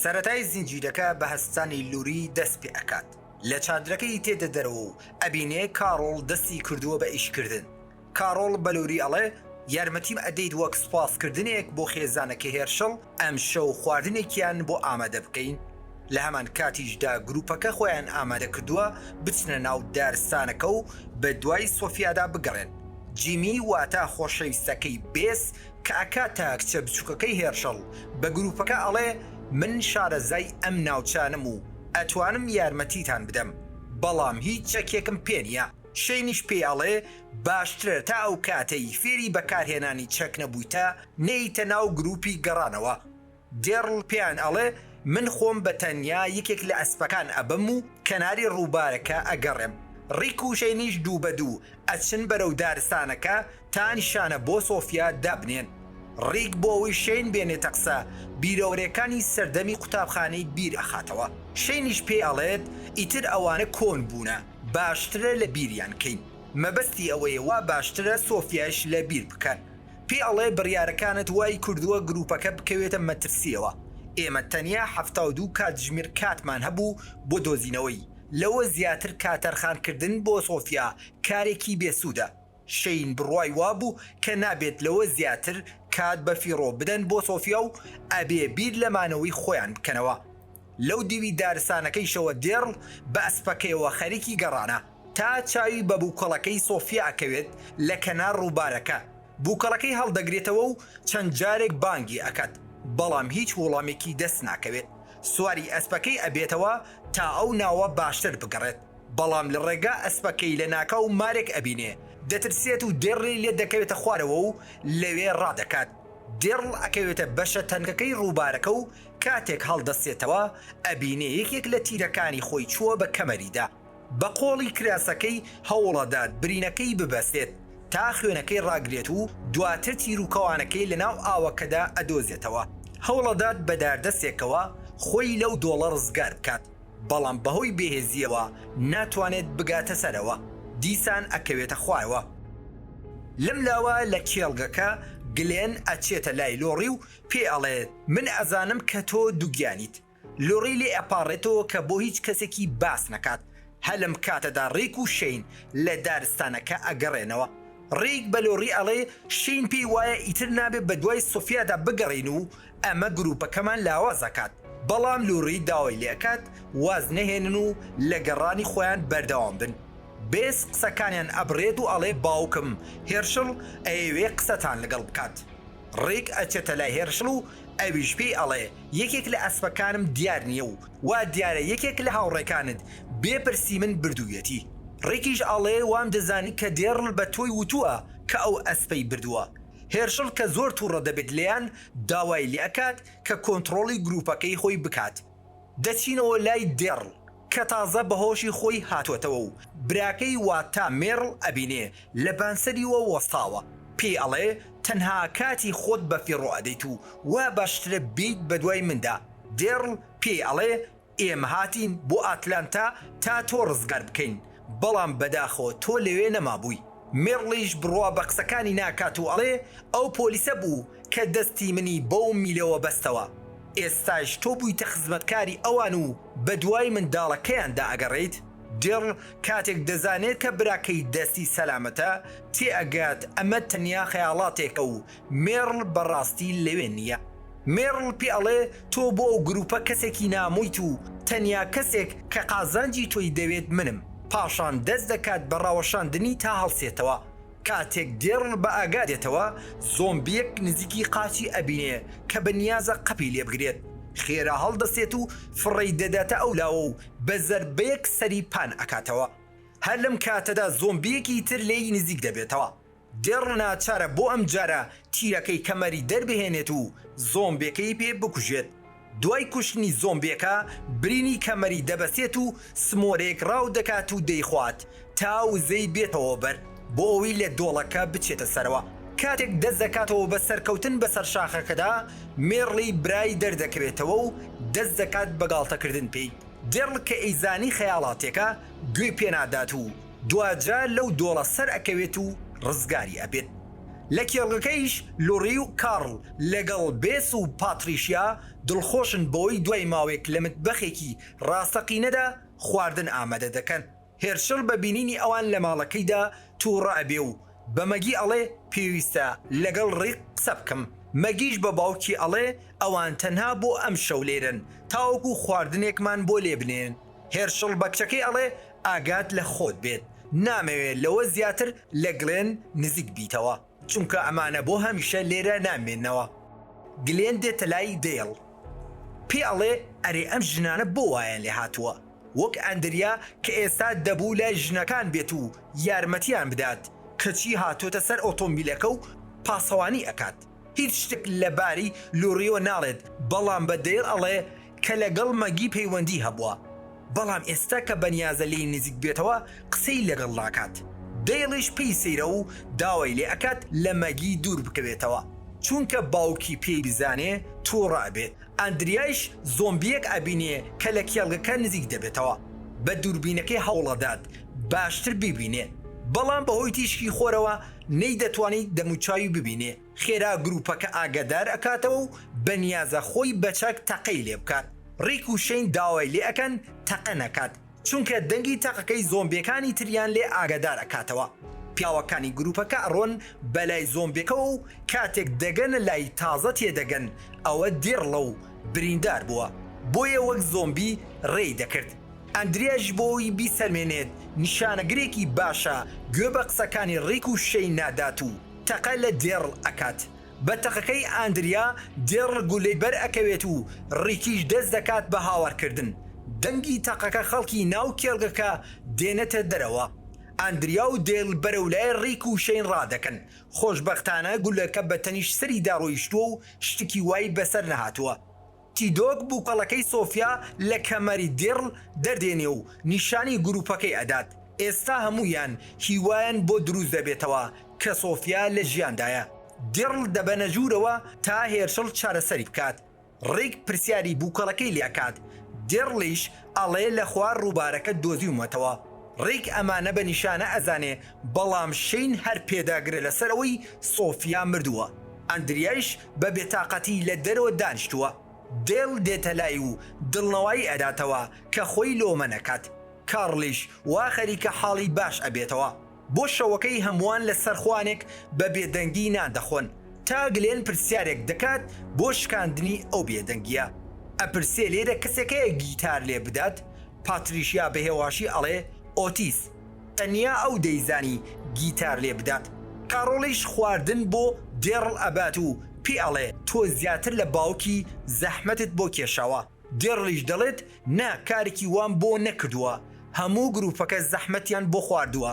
سەرەتای زنجیرەکە بە هەستانی لوری دەست پێ ئەکات لە چادرەکەی تێدە دەرەوە و ئەبینێ کاڕۆڵ دەستی کردووە بە ئیش کردن کاڕۆڵ بە لوری ئەڵێ یارمەتیم ئەدەیت وەک سوپاس کردنێک بۆ خێزانەکەی هێرشڵ ئەمشەو خواردنێکیان بۆ ئامادە بکەین لە هەمان کاتیشدا گروپەکە خۆیان ئامادە کردووە بچنە ناو دارستانەکە و بە دوای سۆفیادا بگەڕێن جیمی واتا خۆشەویستەکەی بێس کە ئەکا تا کچە بچوکەکەی هێرشەڵ بە گروپەکە ئەڵێ من شارەزای ئەم ناوچانەم و ئەتوانم یارمەتیتان بدەم بەڵام هیچ چەکێکم پێ نیە شەینیش پێی ئەڵێ باشترە تا ئەوکاتەی فێری بەکارهێنانی چەک نەبویتە نێیتە ناو گروپی گەڕانەوە گێرڵ پێیان ئەڵێ، من خۆم بە تەنیا یەکێک لە ئەسپەکان ئەبم و کەناری ڕووبارەکە ئەگەڕێم. ڕیک و شەینیش دوو بە دوو ئەچن بەرەو دارستانەکە تا نیشانە بۆ سۆفیا دابنێن. ڕیک بۆ ئەوەی شەین بێنێتە قسە، بیرەوەرێکانی سەردەمی قوتابخانەی بیر ئەخاتەوە. شەینیش پێی ئەڵێت، ئیتر ئەوانە کۆن بوونە، باشترە لە بیریان کەین. مەبەستی ئەوەیە وا باشترە سۆفیایش لە بیر بکەن. پێی ئەڵێ بڕیارەکانت وای کردووە گرووپەکە بکەوێتە مەترسییەوە، ئێمە تەنیا حەفتا و دوو کاتژمێر کاتمان هەبوو بۆ دۆزینەوەی، لەوە زیاتر کاتەرخانکردن بۆ سۆفیا کارێکی بێسوودە. شەین بڕوای وابوو کە نابێت لەوە زیاتر کات بەفیڕۆ بدەن بۆ سۆفیا و ئەبێ بیر لە مانەوەی خۆیان بکەنەوە. لەو دیوی دارستانەکەیشەوە دێڕڵ بە ئەسپەکەیەوە خەریکی گەڕانە. تا چاوی بە بوکەڵەکەی سۆفیا ئەکەوێت لە کەنار ڕوبارەکە بوکەڵەکەی هەڵدەگرێتەوە و چەند جارێک بانگی ئەکات بەڵام هیچ وڵامێکی دەست ناکەوێت سواری ئەسپەکەی ئەبێتەوە تا ئەو ناوە باشتر بگەڕێت بەڵام لە ڕێگا ئەسپەکەی لە ناکاو مارێک ئەبینێ دەترسێت و دێڕڵی لێ دەکەوێتە خوارەوە و لەوێ ڕادەکات دێڕڵ ئەکەوێتە بەشە تەنکەکەی ڕوبارەکە و کاتێک هەڵدەستێتەوە ئەبینێ یەکێک لە تیرەکانی خۆی چووە بە کەمەریدا. بە قۆڵی کراسەکەی هەوڵئەدات برینەکەی ببەستێت تا خوێنەکەی ڕاگرێت و دواتر تیروکەوانەکەی لەناو ئاوەکەدا ئەدۆزێتەوە هەوڵئەدات بە داردەسێکەوە خۆی لەو دۆڵە ڕزگار بکات بەڵام بەهۆی بێهێزیەوە ناتوانێت بگاتە سەرەوە دیسان ئەکەوێتە خوارەوە لەم لاوە لە کێڵگەکە گلێن ئەچێتە لای لۆڕی و پێی ئەڵێت من ئەزانم کە تۆ دوگیانیت. لۆڕی لێ ئەپاڕێتەوە کە بۆ هیچ کەسێکی باس نەکات، هە لەم کاتەدا ڕیک و شەین لە دارستانەکە ئەگەڕێنەوە، ڕیک بە لۆڕی ئەڵێ شەین پێی وایە ئیتر نابێ بە دوای سۆفیادا بگەڕێین و ئەمە گروپەکەمان لاواز ئەکات، بەڵام لۆڕی داوای لێ ئەکات واز نەهێنن و لە گەڕانی خۆیان بەردەوام بن، بێس قسەکانیان ئەبڕێت و ئەڵێ باوکم، هێرشڵ، ئەیەوێ قسەتان لەگەڵ بکات، ڕیک ئەچێتە لای هێرشڵ و ئەویش پێی ئەڵێ یەکێک لە ئەسپەکانم دیار نیە و وا دیارە یەکێک لە هاوڕێکانت بێ پرسی من بردوویەتی، ڕیکیش ئەڵێ وام دەزانی کە دێڕل بە تۆی وتووە کە ئەو ئەسپەی بردووە، هێرشڵ کە زۆر توڕە دەبێت لێیان داوای لێ ئەکات کە کۆنتڕۆڵی گروپەکەی خۆی بکات، دەچینەوە لای دێڕڵ. کە تازە بە هۆشی خۆی هاتۆتەوە و براکەی واتا مێرڵ ئەبینێ لە بانسەریوە وەستاوە پێی ئەڵێ تەنها کاتی خۆت بە فیڕۆ ئەدەیت و وا باشترە بێیت بە دوای مندا دێرڵ پێی ئەڵێ ئێمە هاتین بۆ ئاتلانتا تا تۆ ڕزگار بکەین بەڵام بەداخەوە تۆ لەوێ نەمابووی. میڕڵیش بڕوا بە قسەکانی ناکات و ئەڵێ، ئەو پۆلیسە بوو کە دەستی منی بەو میلەوە بەستەوە. ئێستایش تۆ بوویتە خزمەتکاری ئەوان و بەدوای منداڵەکەیاندا ئەگەڕێیت؟ دێڕل کاتێک دەزانێت کە براکەی دەستی سەلامەتە، تێئەگات ئەمە تەنیا خەیاڵاتێکە و مێرڵ بەڕاستی لەوێ نییە. مێرڵ پێ ئەڵێ تۆ بۆ ئەو گرووپە کەسێکی نامۆیت و تەنیا کەسێک کە قازانجی تۆی دەوێت منم. پاشان دەست دەکات بە ڕاوەشاندنی تا هەڵسێتەوە. کاتێک دێرڵ بە ئاگا دێتەوە زۆمبییەک نزیکی قاچی ئەبینێ کە بە نیازە قەپی لێ بگرێت. خێرا هەڵدەستێت و فڕێی دەداتە ئەو لاوە و بە زەربەیەک سەری پان ئەکاتەوە. هەر لەم کاتەدا زۆمبییەکی تر لێی نزیک دەبێتەوە. دێڕ ناچارە بۆ ئەم جارە تیرەکەی کەمەری دەربهێنێت و زۆمبێکەی پێ بکوژێت، دوای کوشتنی زۆمبێکە برینی کەمەری دەبەسێت و سمۆرێک ڕاو دەکات و دەیخوات تا وزەی بێتەوە بەر بۆ ئەوەی لە دۆڵەکە بچێتە سەرەوە، کاتێک دەست دەکاتەوە بە سەرکەوتن بەسەر شاخەکەدا مێڕڵی برای دەردەکەوێتەوە و دەست دەکات بە گاڵتەکردن پێی، دێڕ کە ئەیزانی خەیاڵاتێکە گوێی پێنادات و. دواجار لەو دۆڵە سەر ئەکەوێت و ڕزگاری ئەبێت لە کێڵگەکەیش لوڕی و کارڵ لەگەڵ بێس و پاتریشیا دڵخۆشن بەوەی دوای ماوەیەک لە متبەخێکی ڕاستەقینەدا خواردن ئامادە دەکەن هێرشڵ بە بینینی ئەوان لە ماڵەکەیدا توڕە ئەبێ و بە مەگی ئەڵێ پێویستە لەگەڵ ڕیک قسە بکەم مەگیش بە باوکی ئەڵێ ئەوان تەنها بۆ ئەمشەو لێرەن تاوەکو خواردنێکمان بۆ لێ بنێن هێرشڵ بە کچەکەی ئەڵێ ئاگات لە خۆت بێت نامەوێ لەوە زیاتر لە گلێن نزیک بیتەوە چونکە ئەمانە بۆ هەمیشە لێرە نامێنەوە. گلێن دێتە لای دەیڵ پێ ئەڵێ ئەرێ ئەم ژنانە بۆ وایان لێ هاتووە وەک ئەندریا کە ئێستا دەبوو لای ژنەکان بێت و یارمەتیان بدات کەچی هاتۆتە سەر ئۆتۆمبیلەکە و پاسەوانی ئەکات. هیچ شتێک لەباری لوڕیۆ ناڵێت بەڵام بە دەیڵ ئەڵێ کە لەگەڵ مەگی پەیوەندی هەبووە بەڵام ئێستا کە بەنیازە لێی نزیک بێتەوە قسەی لەگەڵ ناکات دەیڵیش پێی سەیرە و داوای لێ ئەکات لە مەگی دوور بکەوێتەوە چونکە باوکی پێی بزانێ توڕە ئەبێت ئەندریایش زۆمبیەک ئەبینێ کە لە کێڵگەکە نزیک دەبێتەوە بە دووربینەکەی هەوڵئەدات باشتر بیبینێ بەڵام بەهۆی تیشکی خۆرەوە نەیدەتوانی دەموچاوی ببینێ خێرا گروپەکە ئاگادار ئەکاتەوە و بەنیازە خۆی بەچەک تەقەی لێ بکات ڕیک و شەین داوای لێ ئەکەن تەقە نەکات چونکە دەنگی تەقەکەی زۆمبیەکانی تریان لێ ئاگادار ئەکاتەوە پیاوەکانی گروپەکە ئەڕۆن بەلای زۆمبیەکەوە و کاتێک دەگەنە لای تازە تێدەگەن ئەوە دیڕڵە و بریندار بووە بۆیە وەک زۆمبی ڕێی دەکرد ئەندرێش بۆی بیسەلمێنێت نیشانەگرێکی باشە، گوێ بە قسەکانی ڕیک و شەی نادات و تەقە لە دێڕڵ ئەکات. بە تەقەکەی ئاندریا، دێڕڵ گوللەی بەر ئەکەوێت و ڕیکیش دەست دەکات بە هاوارکردن. دەنگی تەقەکە خەڵکی ناو کێڵگەکە دێنێتە دەرەوە. ئاندریا و دێرڵ بەرەو لای ڕیک و شەین ڕادەکەن. خۆشبەختانە گوللەکە بە تەنیشت سەریدا ڕۆیشتووە و شتکی وای بەسەر نەهاتووە. تیدۆک بوکەڵەکەی سۆفیا لە کەمەری دیڕل دەردێنێ و نیشانی گروپەکەی ئەدات، ئێستا هەموویان هیوایان بۆ دروست دەبێتەوە کە سۆفیا لە ژیاندایە، دیڕل دەبەنە ژوورەوە تا هێرشڵ چارەسەری بکات، ڕیک پرسیاری بوکەڵەکەی لێ ئەکات، دیڕڵیش ئەڵێ لە خوار ڕووبارەکە دۆزیومەتەوە، ڕیک ئەمانە بە نیشانە ئەزانێ بەڵام شەین هەر پێداگرە لەسەر ئەوەی سۆفیا مردووە، ئەندریایش بە بێتاقەتی لە دەرەوە دانیشتووە، دێل دێتە لای و دڵنەوایی ئەداتەوە کە خۆی لۆمە نەکات، کارڵیش وا خەریکە حاڵی باش ئەبێتەوە، بۆ شەوەکەی هەمووان لە سەر خوانێک بە بێدەنگی نان دەخۆن، تا گلێن پرسیارێک دەکات بۆ شکاندنی ئەو بێدەنگیە، ئەپرسێ لێرە کەسێک هەیە گیتار لێ بدات، پاتریشیا بە هێواشی ئەڵێ ئۆتیس. تەنیا ئەو دەیزانی گیتار لێ بدات. کاڕۆڵیش خواردن بۆ دێڕڵ ئەبات و پێی ئەڵێ، تۆ زیاتر لە باوکی زەحمەتت بۆ کێشاوە. دێڕڵیش دەڵێت، نا، کارێکی وام بۆ نەکردووە. هەموو گرووپەکە زەحمەتیان بۆ خواردووە.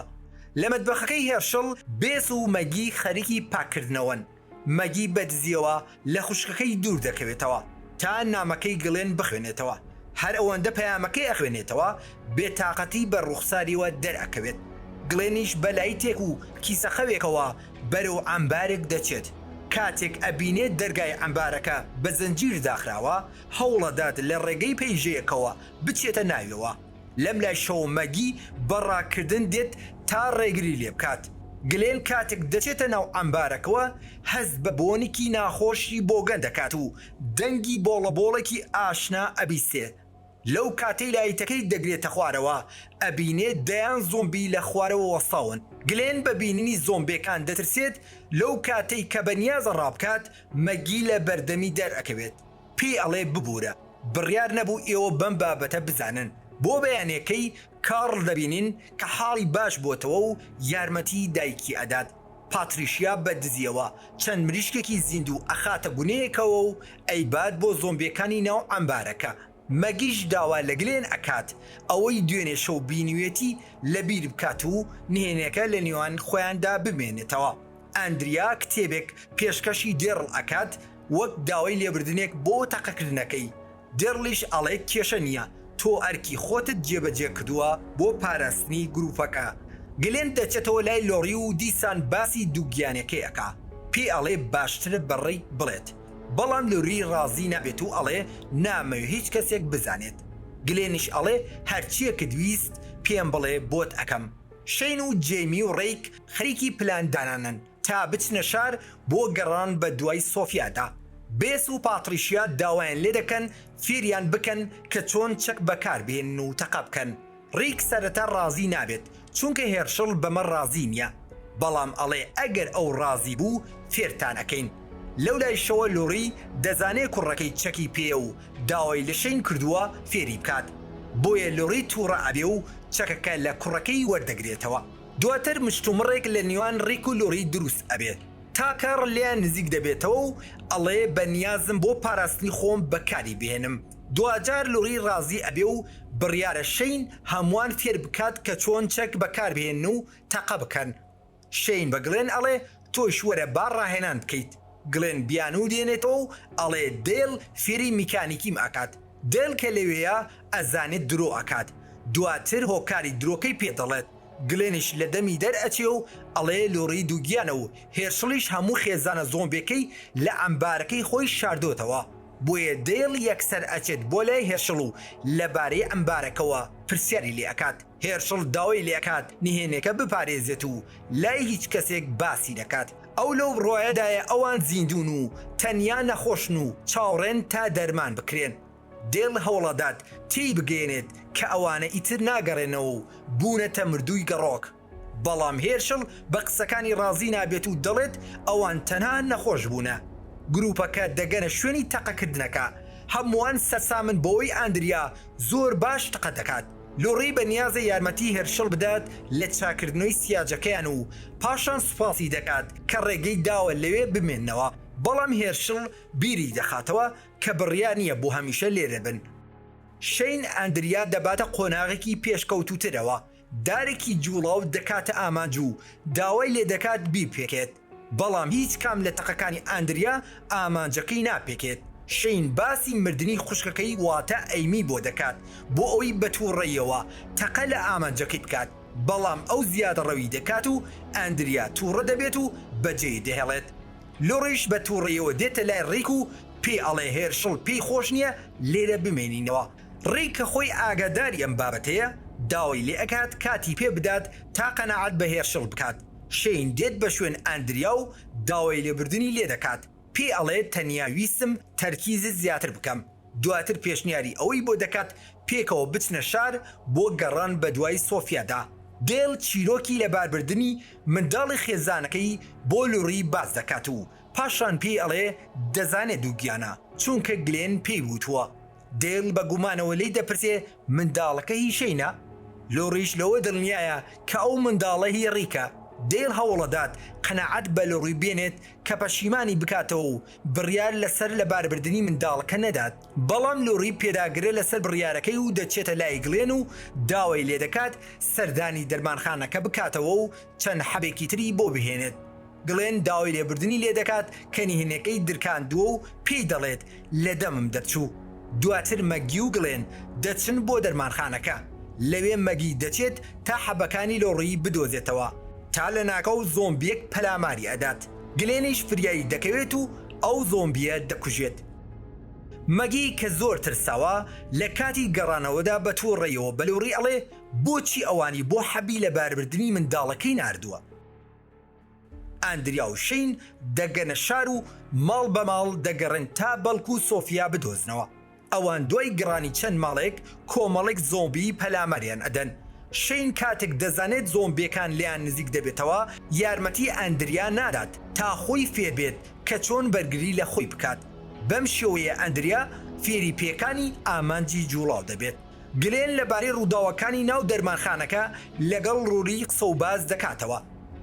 لە مەتبەخەکەی هێرشڵ، بێس و مەگی خەریکی پاککردنەوەن. مەگی بە دزیەوە لە خوشکەکەی دوور دەکەوێتەوە تا نامەکەی گڵێن بخوێنێتەوە هەر ئەوەندە پەیامەکەی ئەخوێنێتەوە بێ تاقەتی بە ڕووخساریەوە دەر ئەکەوێت گڵێنیش بە لایتێک و کیسە خەوێکەوە بەرەو عەمبارێک دەچێت کاتێک ئەبینێت دەرگای عەمبارەکە بە زنجیر داخراوە هەوڵەدات لە ڕێگەی پەیژەیەکەوە بچێتە ناویەوە لەم لای شەوە مەگی بە ڕاکردن دێت تا ڕێگری لێ بکات. گلێن کاتێک دەچێتە ناو عەمبارەکەوە، هەست بە بۆنکی ناخۆشی بۆگەن دەکات و دەنگی بۆڵەبۆڵێکی ئاشنا ئەبیستێ. لەو کاتەی لایتەکەی دەگرێتە خوارەوە، ئەبینێ دەیان زۆمبی لە خوارەوە وەستاون. گلێن بە بینینی زۆمبێکان دەترسێت، لەو کاتەی کە بەنیازە ڕابکات، مەگی لە بەردەمی دەرئەکەوێت. پێی ئەڵێ ببورە، بڕیار نەبوو ئێوە بەم بابەتە بزانن، بۆ بەیانیەکەی کارڵ دەبینین کە حاڵی باش بۆتەوە و یارمەتی دایکی ئەدات، پاتریشیا بە دزیەوە چەند مریشکێکی زیندوو ئەخاتە گونێیەکەوە و ئەیبات بۆ زۆمبیەکانی ناو عەمبارەکە، مەگیش داوا لە گلێن ئەکات ئەوەی دوێنێ شەو بینیوێتی لەبیر بکات و نهێنیەکە لە نێوان خۆیاندا بمێنێتەوە، ئەندریا کتێبێک پێشکەشی دێڕڵ ئەکات، وەک داوای لێبردنێک بۆ تەقەکردنەکەی، دێرڵیش ئەڵێ کێشە نییە، تۆ ئەرکی خۆتت جێبەجێ کردووە بۆ پاراستنی گرووپەکە. گلێن دەچێتەوە لای لۆری و دیسان باسی دووگیانیەکەی ئەکا، پێی ئەڵێ باشترە بە ڕیک بڵێت، بەڵام لۆری ڕازی نابێت و ئەڵێ نامەوێ هیچ کەسێک بزانێت. گلێنیش ئەڵێ هەرچیەکت ویست پێم بڵێ بۆت ئەکەم. شەین و جەیمی و ڕیک خەریکی پلان دانانن. تا بچنە شار بۆ گەڕان بە دوای سۆفیادا، بێس و پاتریشیا داوایان لێدەکەن فێریان بکەن کە چۆن چەک بەکاربهێنن و تەقە بکەن، ڕیک سەرەتا ڕازی نابێت چونکە هێرشڵ بەمە ڕازی نییە، بەڵام ئەڵێ ئەگەر ئەو ڕازی بوو فێرتان ئەکەین، لەولایشەوە لۆری دەزانێ کوڕەکەی چەکی پێیە و داوای لە شەین کردووە فێری بکات، بۆیە لۆری توڕە ئەبێ و چەکەکە لە کوڕەکەی وەردەگرێتەوە. دواتر مشتومڕێک لە نیوان ڕیک و لۆری دروست ئەبێت تا کاڕل لێیان نزیک دەبێتەوە و ئەڵێ بە نیازم بۆ پاراستنی خۆم بەکاری بهێنم دواجار لۆری ڕازی ئەبێ و بڕیارە شەین هەموان فێر بکات کە چۆن چەک بەکار بهێنن و تەقە بکەن شەین بە گڵێن ئەڵێ تۆش وەرە با ڕاهێنان بکەیت. گلێن بیانوو دێنێتەوە و ئەڵێ دەیڵ فێری میکانیکیم ئەکات. دەیڵ کە لەوێیە ئەزانێت درۆ ئەکات. دواتر هۆکاری درۆکەی پێ دەڵێت. گلێنیش لە دەمی دەر ئەچێ و ئەڵێ لۆری دووگیانە و هێرشڵیش هەموو خێزانە زۆمبێکەی لە عەمبارەکەی خۆی شاردۆتەوە. بۆیە دەیڵ یەکسەر ئەچێت بۆ لای هێرشڵ و لەبارەی عەمبارەکەوە پرسیاری لێ ئەکات. هێرشڵ داوای لێکات نهێنێکە بپارێزێت و لای هیچ کەسێک باسی نەکات، ئەو لەو بڕوایەدایە ئەوان زیندوون و تەنیا نەخۆشن و چاوڕێن تا دەرمان بکرێن. دێل هەوڵئەدات تێیبگەیەنێت کە ئەوانە ئیتر ناگەڕێنەوە و بوونەتە مردووی گەڕۆک، بەڵام هێرشڵ بە قسەکانی ڕازی نابێت و دەڵێت ئەوان تەنها نەخۆش بوونە. گروپەکە دەگەنە شوێنی تەقەکردنەکە، هەمووان سەرسامن بەوەی ئاندریا زۆر باش تەقە دەکات. لوڕی بە نیازە یارمەتی هێرشڵ بدات لە چاکردنەوەی سیاجەکەیان و پاشان سوپاسی دەکات کە ڕێگەی داوە لەوێ بمێنەوە، بەڵام هێرشڵ بیری دەخاتەوە کە بڕیار نییە بۆ هەمیشە لێرە بن. شەین ئەندریا دەباتە قۆناغێکی پێشکەوتووترەوە، دارێکی جووڵاو دەکاتە ئامانج و داوای لێدەکات بیپێکێت. بەڵام هیچ کام لە تەقەکانی ئاندریا ئامانجەکەی ناپێکێت، شەین باسی مردنی خوشکەکەی واتە ئەیمی بۆ دەکات بۆ ئەوەی بە توڕەییەوە تەقە لە ئامانجەکەی بکات، بەڵام ئەو زیادەڕەوی دەکات و ئاندریا توڕە دەبێت و بەجێی دەهێڵێت. لۆڕیش بە توڕەییەوە دێتە لای ڕیک و پێی ئەڵێ هێرشڵ پێی خۆش نییە لێرە بمێنینەوە. ڕیک کە خۆی ئاگاداری ئەم بابەتەیە داوای لێ ئەکات کاتی پێ بدات تا قەناعەت بە هێرشڵ بکات، شەین دێت بە شوێن ئەندریا و داوای لێبوردنی لێ دەکات، پێی ئەڵێت تەنیا ویستم تەرکیزت زیاتر بکەم، دواتر پێشنیاری ئەوەی بۆ دەکات پێکەوە بچنە شار بۆ گەڕان بەدوای سۆفیادا. دێل چیرۆکی لەباربردنی منداڵی خێزانەکەی بۆ لوڕی باس دەکات و پاشان پێی ئەڵێ دەزانێت دووگیانە، چونکە گلێن پێی وتووە دێل بە گومانەوە لێی دەپرسێ منداڵەکە هی شەینە؟ لۆڕیش لەوە دڵنیایە کە ئەو منداڵە هی ڕیکە. دێل هەوڵەدات قەناعەت بە لۆڕی بێنێت کە پەشیمانی بکاتەوە و بڕیار لەسەر لەباربردنی منداڵەکە نەدات، بەڵام لۆڕی پێداگرە لەسەر بڕیارەکەی و دەچێتە لای گڵێن و داوای لێدەکات سەردانی دەرمانخانەکە بکاتەوە و چەند حەبێکی تری بۆ بهێنێت. گلێن داوای لێبوردنی لێدەکات، کە نهێنییەکەی درکاندووە و پێی دەڵێت، لە دەمم دەرچوو. دواتر مەگی و گلێن دەچن بۆ دەرمانخانەکە. لەوێ مەگی دەچێت تا حەبەکانی لۆڕیی بدۆزێتەوە، تا لەناکاو زۆمبییەک پەلاماری ئەدات، گلێنیش فریای دەکەوێت و ئەو زۆمبییە دەکوژێت. مەگی کە زۆر ترساوە، لە کاتی گەڕانەوەدا بە تووڕەیەوە بە لۆڕی ئەڵێ، بۆچی ئەوانی بۆ حەبی لەباربردنی منداڵەکەی ناردووە؟ ئاندریا و شین دەگەنە شار و ماڵ بە ماڵ دەگەڕێن تا بەڵک و سۆفیا بدۆزنەوە ئەوان دوای گڕانی چەند ماڵێک کۆمەڵێک زۆمبی پەلاماریان ئەدەن شین کاتێک دەزانێت زۆمبیەکان لێیان نزیک دەبێتەوە یارمەتی ئاندریا نادات تا خۆی فێربێت کە چۆن بەرگری لە خۆی بکات بەم شێوەیە ئاندریا فێری پێکانی ئامانجی جوڵاو دەبێت. گلێن لەبارەی ڕووداوەکانی ناو دەرمانخانەکە لەگەڵ لۆری قسە و باس دەکاتەوە،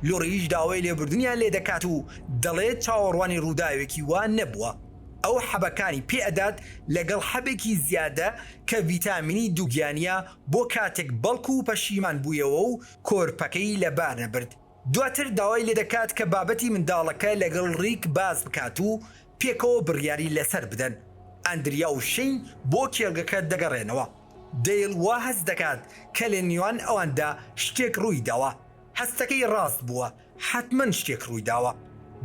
لۆریش داوای لێبوردنیان لێ دەکات و دەڵێت چاوەڕوانی ڕووداوێکی وا نەبووە، ئەو حەبەکانی پێ ئەدات لەگەڵ حەبێکی زیادە کە ڤیتامینی دووگیانییە بۆ کاتێک بەڵکوو پەشیمان بوویەوە و کۆرپەکەی لەبار نەبرد. دواتر داوای لێدەکات کە بابەتی منداڵەکە لەگەڵ ڕیک باس بکات و پێکەوە بڕیاری لەسەر بدەن. ئەندریا و شەین بۆ کێڵگەکە دەگەڕێنەوە. دەیل وا هەست دەکات کە لە نێوان ئەواندا شتێک ڕوویداوە. هەستەکەی ڕاست بووە، حەتمەن شتێک ڕوویداوە.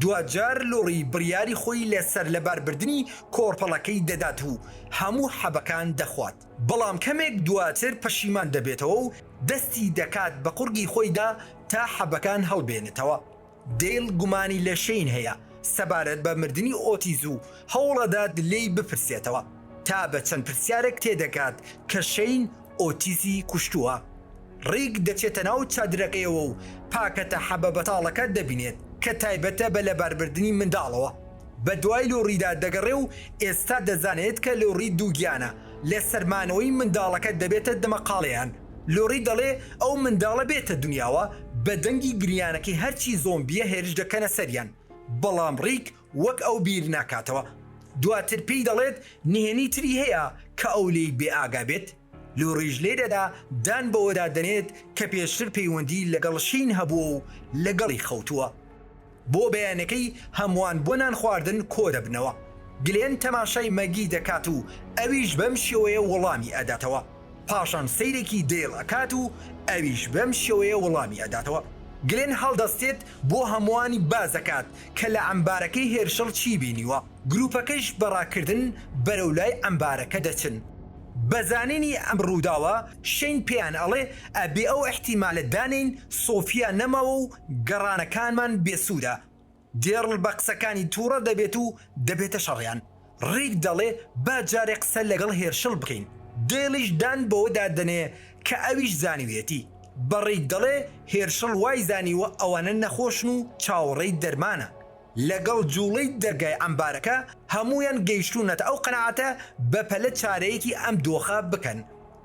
دواجار لۆری بڕیاری خۆی لە سەرلەباربردنی کۆرپەڵەکەی دەدات و هەموو حەبەکان دەخوات. بەڵام کەمێک دواتر پەشیمان دەبێتەوە و دەستی دەکات بە قوڕگی خۆیدا تا حەبەکان هەڵبێنێتەوە. دەیل گومانی لە شەین هەیە سەبارەت بە مردنی ئۆتیز و هەوڵەدات لێی بپرسێتەوە، تا بە چەند پرسیارێک تێدەگات کە شەین ئۆتیزی کوشتووە. ڕیک دەچێتە ناو چادرەکەیەوە و پاکەتە حەبە بەتاڵەکە دەبینێت کە تایبەتە بە لەباربردنی منداڵەوە. بە دوای لۆڕیدا دەگەڕێ و ئێستا دەزانێت کە لۆڕی دووگیانە، لە سەر مانەوەی منداڵەکە دەبێتە دمەقاڵێیان. لۆڕی دەڵێ ئەو منداڵە بێتە دونیاوە، بە دەنگی گریانەکەی هەرچی زۆمبییە هێرش دەکەنە سەریان، بەڵام ڕیک وەک ئەو بیر ناکاتەوە. دواتر پێی دەڵێت نهێنی تری هەیە کە ئەو لێی بێ ئاگا بێت. لۆڕیش لێرەدا دان بەوەدا دەنێت کە پێشتر پەیوەندی لەگەڵ شین هەبووە و لەگەڵی خەوتووە. بۆ بەیانەکەی هەموان بۆ نان خواردن کۆدەبنەوە. گلێن تەماشای مەگی دەکات و ئەویش بەم شێوەیە وەڵامی ئەداتەوە. پاشان سەیرێکی دەیڵ ئەکات و ئەویش بەم شێوەیە وەڵامی ئەداتەوە. گلێن هەڵدەستێت بۆ هەموانی بازەکات کە لە عەمبارەکەی هێرشڵ چی بینیوە. گروپەکەش بە ڕاکردن بەرەو لای عەمبارەکە دەچن. بە زانینی ئەم ڕوداوە شەین پێیان ئەڵێ ئەبێ ئەو ئیحتیمالە دانێین سۆفیا نەماوە و گەڕانەکانمان بێسوودە. دێڕل بە قسەکانی تووڕە دەبێت و دەبێتە شەڕیان. ڕیک دەڵێ با جارێ قسە لەگەڵ هێرشڵ بکەین. دەیڵیش دان بەوەدا دەنێ کە ئەویش زانیویەتی. بە ڕیک دەڵێ هێرشڵ وای زانیوە ئەوانە نەخۆشن و چاوەڕێی دەرمانە. لەگەڵ جووڵەی دەرگای عەمبارەکە هەموویان گەیشتوونەتە ئەو قەناعەتە بەپەلە چارەیەکی ئەم دۆخە بکەن.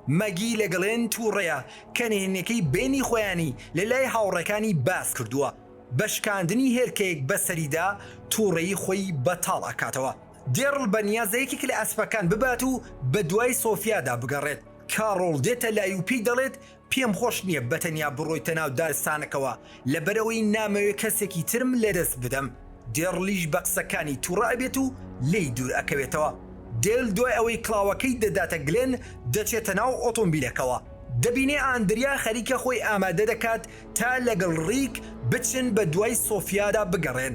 مەگی لە گەڵێن تووڕەیە کە نهێنیەکەی بەینی خۆیانی لە لای هاوڕێکانی باس کردووە بە شکاندنی هێلکەیەک بە سەریدا تووڕەیی خۆی بەتاڵ ئەکاتەوە دێڕل بە نیازە یەکێک لە ئەسپەکان ببات و بە دوای سۆفیادا بگەڕێت کاڕۆڵ دێتە لای و پێی دەڵێت پێم خۆش نیە بە تەنیا بڕۆیتە ناو دارستانەکەوە لەبەرئەوەی نامەوێ کەسێکی ترم لەدەست بدەم. دێڕڵیش بە قسەکانی توڕە ئەبێت و لێی دوور ئەکەوێتەوە. دێل دوای ئەوەی کڵاوەکەی دەداتە گلێن، دەچێتە ناو ئۆتۆمبیلەکەوە. دەبینێ ئاندریا خەریکە خۆی ئامادە دەکات تا لەگەڵ ڕیک بچن بە دوای سۆفیادا بگەڕێن.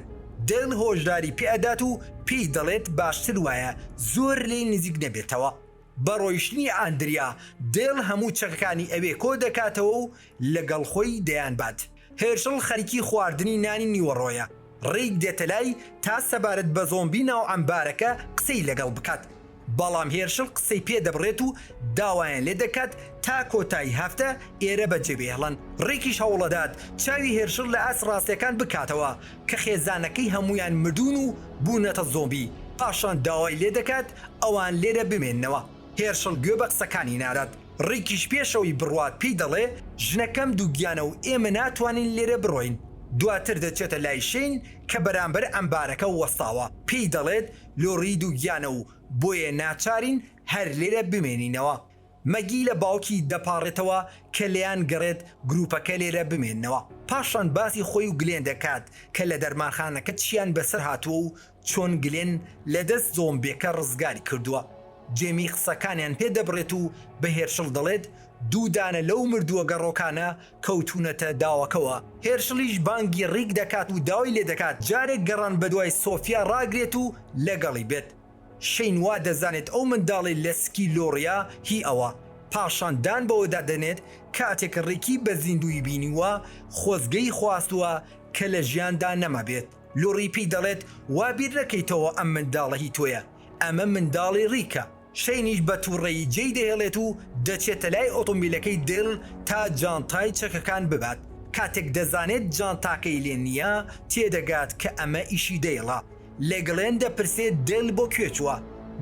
دێل هۆشداری پێ ئەدات و پێی دەڵێت باشتر وایە زۆر لێی نزیک نەبێتەوە. بە ڕۆیشتنی ئاندریا، دێل هەموو چەکەکانی ئەوێ کۆ دەکاتەوە و لەگەڵ خۆی دەیانبات. هێرشڵ خەریکی خواردنی نانی نیوەڕۆیە. ڕیک دێتەلای تا سەبارەت بە زۆمبی ناو عەمبارەکە قسەی لەگەڵ بکات. بەڵام هێرشڵ قسەی پێ دەبڕێت و داوایان لێ دەکات تا کۆتایی هەفتە ئێرە بەجێ بهێڵن. ڕیکیش هەوڵدەدات چاوی هێرشڵ لە ئاست ڕاستییەکان بکاتەوە کە خێزانەکەی هەموویان مردوون و بوونەتە زۆمبی. پاشان داوای لێ دەکات ئەوان لێرە بمێننەوە. هێرشڵ گوێ بە قسەکانی نادات، ڕیکیش پێشەوەی بڕوات پێی دەڵێ، ژنەکەم دووگیانە و ئێمە ناتوانین لێرە بڕۆین. دواتر دەچێتە لای شەین کە بەرامبەر ئەمبارەکە وەستاوە، پێی دەڵێت، لۆڕی دووگیانە و بۆیە ناچارین هەر لێرە بمێنینەوە. مەگی لە باوکی دەپاڕێتەوە کە لێیان گەڕێت گروپەکە لێرە بمێننەوە. پاشان باسی خۆی و گلێن دەکات کە لە دەرمانخانەکە چییان بەسەر هاتووە و چۆن گلێن لە دەست زۆمبێکە ڕزگاری کردووە، جێمی قسەکانیان پێ دەبڕێت و بە هێرشڵ دەڵێت دوو دانە لەو مردووە گەڕۆکانە کەوتوونەتە داوەکەوە، هێرشڵیش بانگی ڕیک دەکات و داوای لێ دەکات جارێک گەڕان بەدوای سۆفیا ڕاگرێت و لەگەڵی بێت، شەین وا دەزانێت ئەو منداڵەی لە سکی لۆڕیا هی ئەوە، پاشان دان بەوەدا دەنێت کاتێک ڕیکی بە زیندووی بینیووە خۆزگەی خواستووە کە لە ژیاندا نەمابێت. لوڕی پی دەڵێت وا بیر نەکەیتەوە ئەم منداڵە هی تۆیە، ئەمە منداڵی ڕیکە. شەینیش بە توڕەیی جێی دەهێڵێت و دەچێتە لای ئۆتۆمبیلەکەی دێل تا جانتای چەکەکان ببات، کاتێک دەزانێت جانتاکەی لێ نییە تێدەگات کە ئەمە ئیشی دێلە، لە گڵێن دەپرسێت دێل بۆ کوێ چووە؟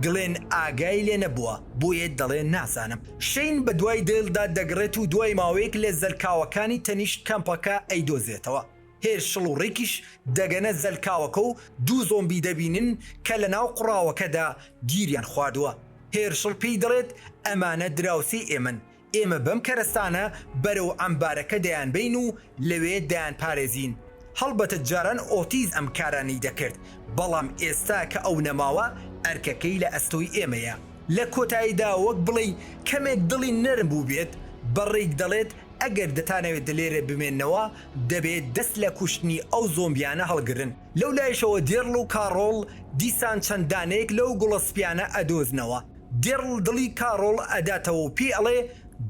گڵێن ئاگای لێ نەبووە بۆیە دەڵێ نازانم. شەین بە دوای دێلدا دەگڕێت و دوای ماوەیەک لە زەلکاوەکانی تەنیشت کەمپەکە ئەیدۆزێتەوە. هێر شڵ و ڕیکیش دەگەنە زەلکاوەکە و دوو زۆمبی دەبینن کە لە ناو قوڕاوەکەدا گیریان خواردووە، هێر شڵ پێی دەڵێت ئەمانە دراوسێی ئێمەن، ئێمە بەم کەرەستانە بەرەو عەمبارەکە دەیانبەین و لەوێ دەیانپارێزین، هەڵبەتە جاران ئۆتیز ئەم کارانەی دەکرد، بەڵام ئێستا کە ئەو نەماوە ئەرکەکەی لە ئەستۆی ئێمەیە. لە کۆتاییدا وەک بڵێی کەمێک دڵی نەرم بووبێت بە ڕیک دەڵێت ئەگەر دەتانەوێت لێرە بمێننەوە، دەبێ دەست لە کوشتنی ئەو زۆمبیانە هەڵگرن. لەو لایشەوە دێڕل و کاڕۆڵ دیسان چەند دانەیەک لەو گوڵە سپیانە ئەدۆزنەوە. دێڕل دڵی کاڕۆڵ ئەداتەوە و پێی ئەڵێ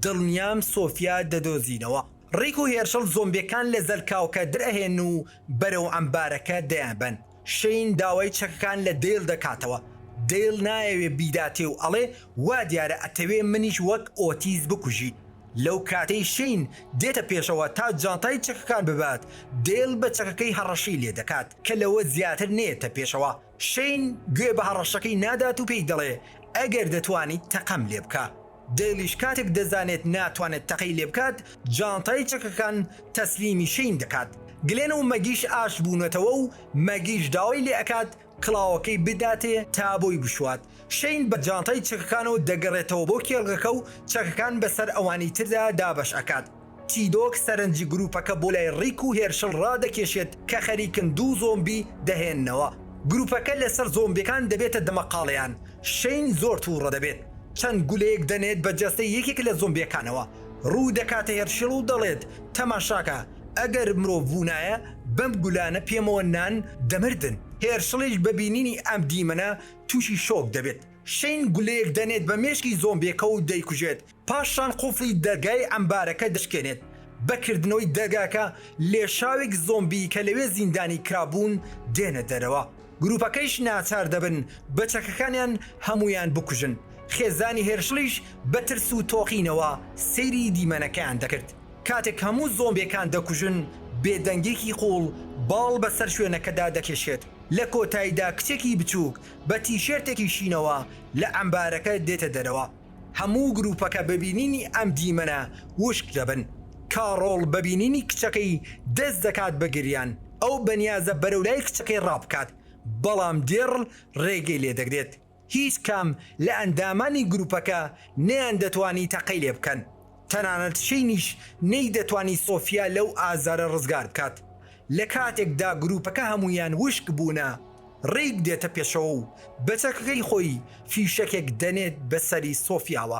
دڵنیام سۆفیا دەدۆزینەوە. ڕیک و هێرشڵ زۆمبێکان لە زەلکاوکە درئەهێنن و بەرەو عەمبارەکە دەیانبەن. شەین داوای چەکەکان لە دەیڵ دەکاتەوە، دەیڵ نایەوێ بیداتێ و ئەڵێ، وا دیارە ئەتەوێ منیش وەک ئۆتیس بکوژی. لەو کاتەی شەین دێتە پێشەوە تا جانتای چەکەکان ببات، دەیڵ بە چەکەکەی هەڕەشەی لێ دەکات کە لەوە زیاتر نەیەتە پێشەوە. شەین گوێ بە هەڕەشەکەی نادات و پێی دەڵێ، ئەگەر دەتوانیت تەقەم لێ بکە. دێلیش کاتێک دەزانێت ناتوانێت تەقەی لێبکات، جانتای چەکەکان تەسلیمی شەین دەکات. گلێن و مەگیش ئاشت بوونەتەوە و مەگیش داوای لێ ئەکات کڵاوەکەی بداتێ تا بۆی بشوات. شەین بە جانتای چەکەکانەوە دەگەڕێتەوە بۆ کێڵگەکە و چەکەکان بەسەر ئەوانی تردا دابەش ئەکات. چیدۆک سەرنجی گروپەکە بۆ لای ڕیک و هێرشڵ ڕادەکێشێت کە خەریکن دوو زۆمبی دەهێننەوە. گروپەکە لەسەر زۆمبیەکان دەبێتە دەمەقاڵێیان. شەین زۆر توڕە دەبێت. چەند گولەیەک دەنێت بە جەستەی یەکێک لە زۆمبیەکانەوە. ڕوو دەکاتە هێرشڵ و دەڵێت، تەماشاکە، ئەگەر مرۆڤ بوونایە بەم گولانە پێمەوە نان دەمردن. هێرشڵیش بە بینینی ئەم دیمەنە تووشی شۆک دەبێت. شەین گولەیەک دەنێت بە مێشکی زۆمبیەکە و دەیکوژێت. پاشان قوفڵی دەرگای عەمبارەکە دەشکێنێت، بە کردنەوەی دەرگاکە لێشاوێک زۆمبی کە لەوێ زیندانی کرابوون دێنە دەرەوە، گروپەکەیش ناچار دەبن بە چەکەکانیان هەموویان بکوژن، خێزانی هێرشڵیش بە ترس و تۆقینەوە سەیری دیمەنەکەیان دەکرد، کاتێک هەموو زۆمبیەکان دەکوژن بێدەنگێکی قوڵ باڵ بەسەر شوێنەکەدا دەکێشێت، لە کۆتایدا کچێکی بچوک بە تیشێرتێکی شینەوە لە عەمبارەکە دێتە دەرەوە. هەموو گروپەکە بە بینینی ئەم دیمەنە وشک دەبن. کاڕۆڵ بە بینینی کچەکەی دەست دەکات بە گریان، ئەو بەنیازە بەرەو لای کچەکەی ڕابکات، بەڵام دێڕل ڕێگەی لێدەگرێت. هیچ کام لە ئەندامانی گروپەکە نەیاندەتوانی تەقەی لێبکەن، تەنانەت شینیش نەیدەتوانی سۆفیا لەو ئازارە ڕزگار بکات، لە کاتێکدا گروپەکە هەموویان وشک بوونە، ڕیک دێتە پێشەوە و بە چەکەکەی خۆی فیشەکێک دەنێت بە سەری سۆفیاوە.